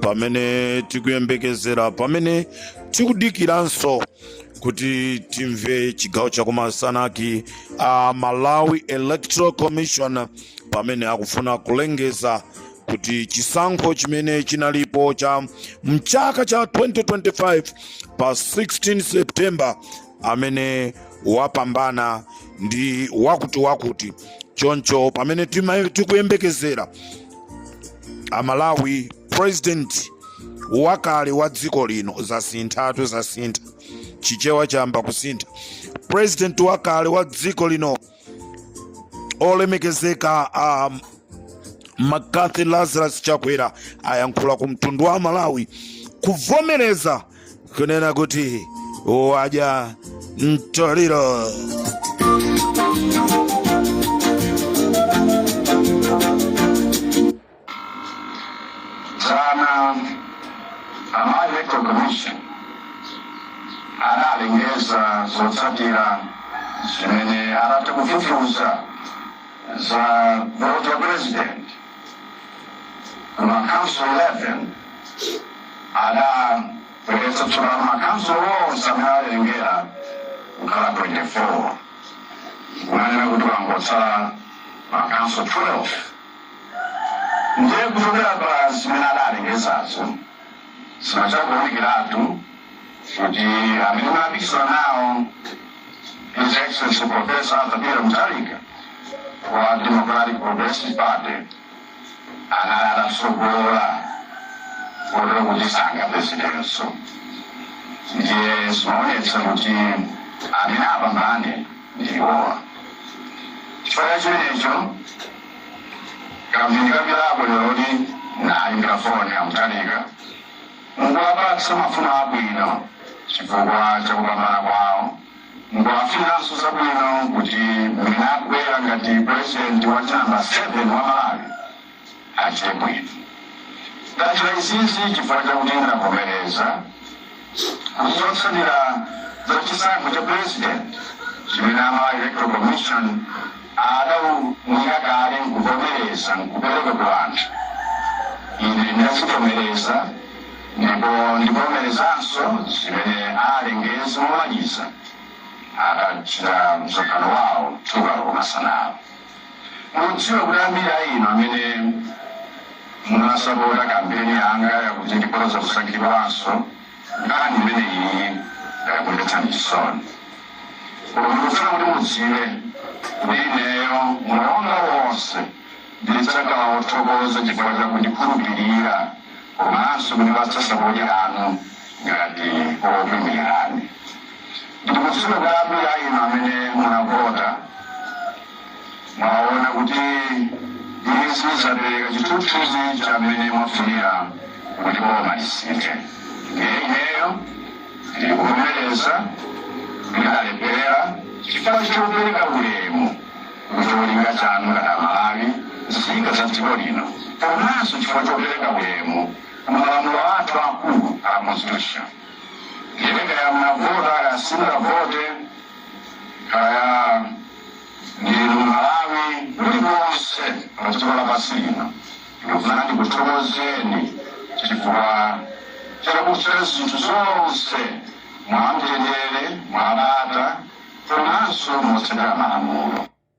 pamene tikuyembekezera pamene tikudikiranso kuti timve chigawo chakumasanachi a malawi electoral commission pamene akufuna kulengeza kuti chisankho chimene chinalipo cha mchaka cha 2025 pa 16 september amene wapambana ndi wakuti wakuti choncho pamene tima- tikuyembekezera amalawi president wakale wa dziko lino zasinthatu zasintha chichewa chayamba kusintha president wakale wa dziko lino olemekezeka a um, mccarthy lazarus chakwera ayankhula ku mtundu wa malawi kuvomereza kunena kuti wadya mtoliro dzana a malawi electoral commission analengeza zotsatira zimene atazifufuza za voti ya president m'makhonsolo 11 adabweretsa tsopano makhonsolo onse amene alengeza kukhala 24 ndi kunena kuti pangotsala makhonsolo 12 ndiye kuchokera pa zimene adalengezazo zinachita kuonekeratu kuti amene ndimapikisana nawo his excellency professor arthur peter mutharika wa democratic progressive party anali atatsogola kotero kuti sangapezekenso ndiye zimaonetsa kuti amene apambane ndiwowa chifukwa chimenecho kamphindi kapitako lero kuti ndayimbira foni a mutharika nkuwapatsa mafuno abwino chifukwa chakupambana kwawo nkuwafuniranso zabwino kuti mmene akubwera ngati purezidenti wa namba 7 wa malawi achite bwino. Ndachita izizi chifukwa chakuti ndavomereza kuti zotsatira za chisankho cha pulezidenti chimene a Malawi Electoral Commission adaunika kale nkuvomereza nkupereka ku anthu, ine ndazivomereza ndipo ndivomerezanso zimene alengeze momaliza akachita msonkhano wawo kumasanawa. Ndikudziwa kuti ambiri a inu amene munasapota kampeni yanga yakuti ndikhoza kusankhidwanso, nkhani imeneyi yakumvetsani chisoni. Koma ndikufuna kuti mudziwe kuti ineyo moyo wanga wonse ndidzakhala wothokoza chifukwa cha kundikhulupirira komanso kundipatsa sapoti yanu ngati wokuimirani. ndikudziwa kuti ambiri a inu amene munavota mwaona kuti izi zapereka chithunzithunzi cha mmene mwafunira kuti boma lisinthe ndiye ineyo ndikuvomereza kulephera chifukwa chopereka ulemu kucholinga chanu ngati amalawi nzika za dziko lino komanso chifukwa chopereka ulemu kumalamulo athu akulu a constitution Ndiye kaya mnavota kaya simunavote kaya ndinu Mmalawi kulikonse pa dziko lapansi lino, ndikufuna ndikuthokozeni chifukwa chakuchita zinthu zonse mwamtendere, mwabata komanso motsatira malamulo.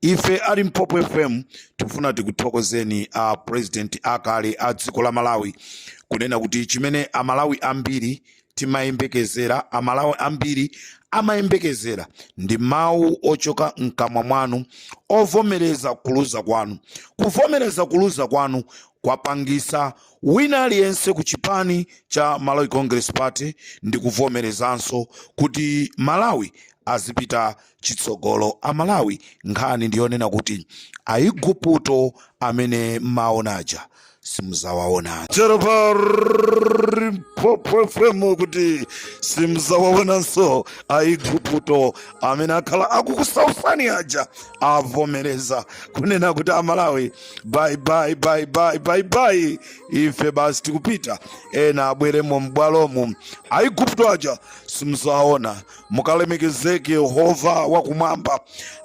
Ife a Limpopo FM tikufuna tikuthokozeni a president akale a dziko la Malawi kunena kuti chimene a Malawi ambiri timayembekezera, a Malawi ambiri amayembekezera ndi mawu ochoka mkamwa mwanu ovomereza kuluza kwanu. Kuvomereza kuluza kwanu kwapangisa wina aliyense ku chipani cha Malawi Congress Party ndi kuvomerezanso kuti Malawi azipita chitsogolo a Malawi nkhani ndiyonena kuti Aiguputo amene mmaona aja simuzawaonanso tero pa Limpopo FM kuti simzawaonanso Aiguputo amene akhala akukusautsani aja avomereza kunena kuti amalawi bye bye bye bye bye bye ife basi tikupita ena abweremo m'bwalomu Aiguputo aja simzawaona mukalemekezeke yehova wakumwamba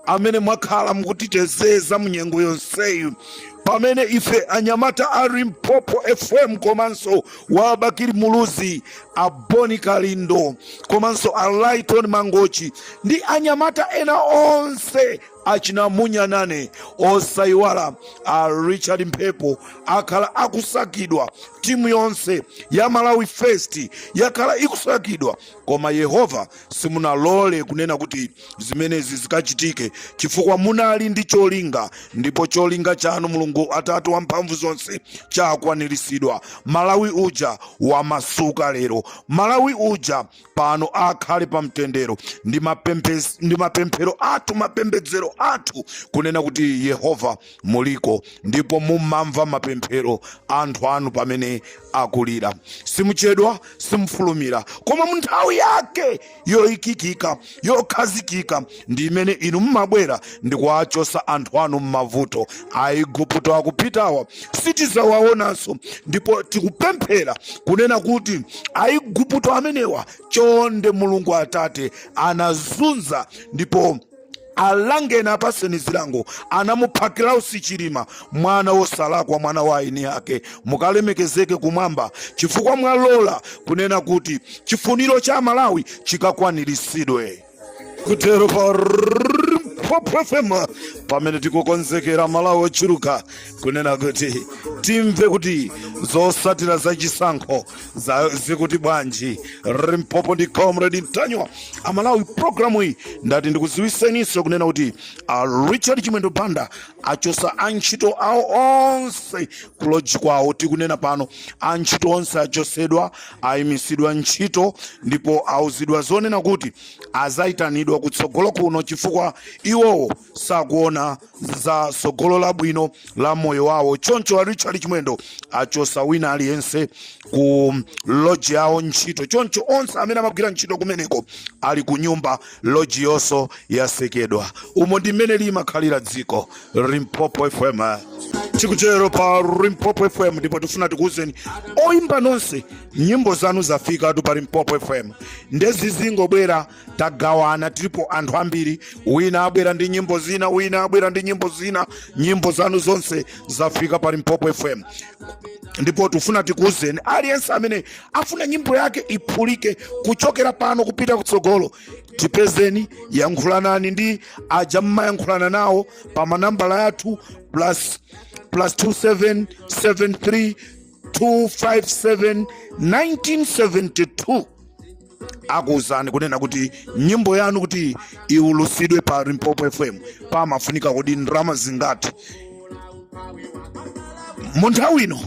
amene mwakhala mukutiteteza mu nyengo yonseyi pamene ife anyamata a limpopo fm komanso wa Bakili Muluzi a Bon Kalindo komanso a Lyton Mangochi ndi anyamata ena onse achina munyanane osayiwala a richard mphepo akhala akusakidwa timu yonse ya malawi first yakhala ikusakidwa Koma Yehova simunalole kunena kuti zimenezi zikachitike chifukwa munali ndi cholinga ndipo cholinga chanu Mulungu Atate wamphamvu zonse chakwaniritsidwa. Malawi uja wamasuka lero. Malawi uja pano akhale pa mtendero. Ndi mapemphero athu mapembedzero athu kunena kuti Yehova muliko ndipo mumamva mapemphero a anthu anu pamene akulira. Simuchedwa, simufulumira, koma mu nthawi yake yoikikika, yokhazikika ndi imene inu mumabwera ndi kuwachosa anthu anu m'mavuto. Aigupto akupitawa sitizawaonanso, ndipo tikupemphera kunena kuti Aigupto amenewa chonde Mulungu Atate anazunza ndipo alangeni apaseni zilango anamupha Klaus Chilima mwana wosalakwa mwana wa eni ake mukalemekezeke kumwamba chifukwa mwalola kunena kuti chifuniro cha amalawi chikakwaniritsidwe tikuchezera pa Limpopo FM pamene tikukonzekera amalawi ochuluka kunena kuti timve kuti zosatira za chisankho zikuti bwanji limpopo ndi comrade ntanyiwa amalawi programu iyi ndati ndikuziwiseninso kunena kuti richard chimwendo banda achosa antchito awo onse kuloji kwawo tikunena pano antchito onse achosedwa ayimisidwa ntchito ndipo auzidwa zonena kuti azayitanidwa kutsogolo kuno chifukwa iwowo sakuona za tsogolo labwino la moyo wawo choncho a richard chimwendo achosa wina aliyense ku loji yawo ntchito choncho onse amene amagwira ntchito kumeneko ali ku nyumba loji yonso yasekedwa umo ndi mmene limakhalira dziko limpopo fm tikuchezera pa limpopo fm ndipo tifuna tikuwuzeni oyimba nonse nyimbo zanu zafikatu pa limpopo fm nde zizingobwera tagawana tilipo anthu ambiri wina abwera ndi nyimbo zina wina abwera ndi nyimbo zina nyimbo zanu zonse zafika pa limpopo fm ndipo tifuna tikuwuzeni aliyense amene afuna nyimbo yake iphulike kuchokera pano kupita kutsogolo tipezeni yankhulanani ndi aja mmayankhulana nawo pa manambala athu plus 2773 257 1972 akuwuzani kunena kuti nyimbo yanu kuti iwulusidwe pa limpopo fm pamafunika kodi ndalama zingati mu nthawi ino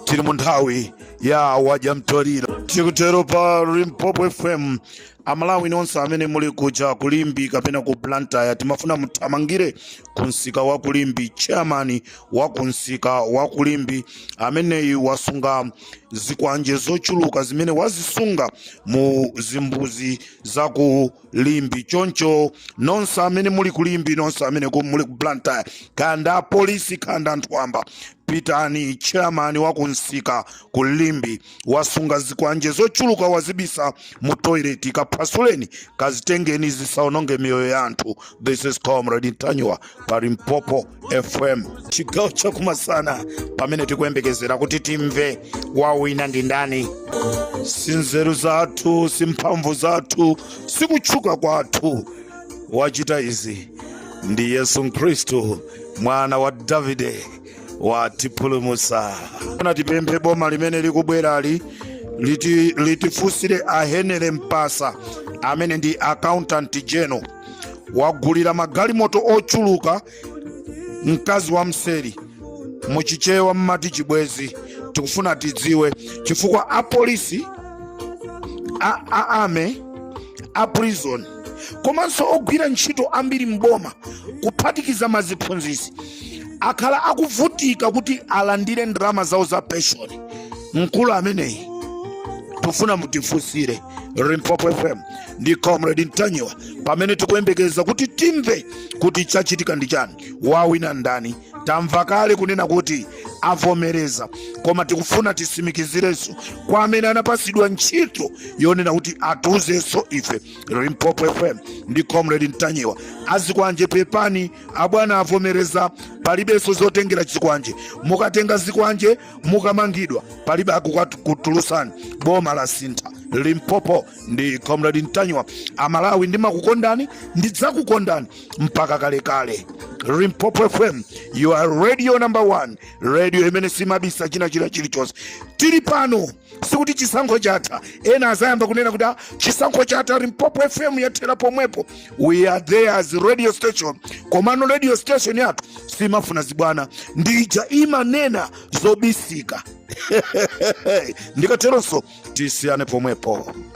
tili mu nthawi ya wadya mtoliro tikuchezera pa limpopo fm amalawi nonse amene muli kuja kulimbi kapena ku blantyre timafuna muthamangire ku msika wa kulimbi chairman wa ku msika wa kulimbi ameneyi wasunga zikwanje zochuluka zimene wazisunga mu zimbuzi za ku limbi choncho nonse amene muli kulimbi nonse amene ku- muli ku blantyre kaya ndi apolisi kaya ndi anthu wamba pitani chairman wa ku msika ku limbi wasunga zikwanje zochuluka wazibisa mu toilet kaphwasuleni kazitengeni zisaononge miyoyo ya anthu this is comrade ntanyiwa pa limpopo fm chigawo chakumasana pamene tikuyembekezera kuti timve wawina ndi ndani si nzeru zathu si mphamvu zathu si kutchuka kwathu wachita izi ndi yesu khristu mwana wa davide watipulumusa ona tipemphe boma limene likubwerali liti- litifunsire a henry mphasa amene ndi accountant general wagulira magalimoto ochuluka mkazi wa mseri muchichewa mmati chibwezi tikufuna tidziwe chifukwa apolisi a, a army a prison komanso ogwira ntchito ambiri mboma kuphatikiza maziphunzisi akhala akuvutika kuti alandire ndalama zawo za penshoni mkulu ameneyi tufuna mutifunsire limpopo fm ndi comrade ntanyiwa pamene tikuyembekeza kuti timve kuti chachitika ndi chani wawina ndani tamva kale kunena kuti avomereza koma tikufuna tisimikizirenso kwa amene anapasidwa ntchito yonena kuti atiuzenso ife limpopo fm ndi comrade ntanyiwa azikwanje pepani abwana avomereza palibenso zotengera chikwanje mukatenga zikwanje mukamangidwa palibe akukutulutsani boma lasintha limpopo ndi comrade ntanyiwa amalawi ndimakukondani ndidzakukondani mpaka kalekale limpopo fm your radio number one radio imene simabisa china chilichonse tili pano sikuti chisankho chatha ena azayamba kunena kuti ah chisankho chatha limpopo fm yathera pomwepo we are there as radio station komano radio station yathu simafuna zibwana ndija imanena zobisika ndikateronso tisiyane pomwepo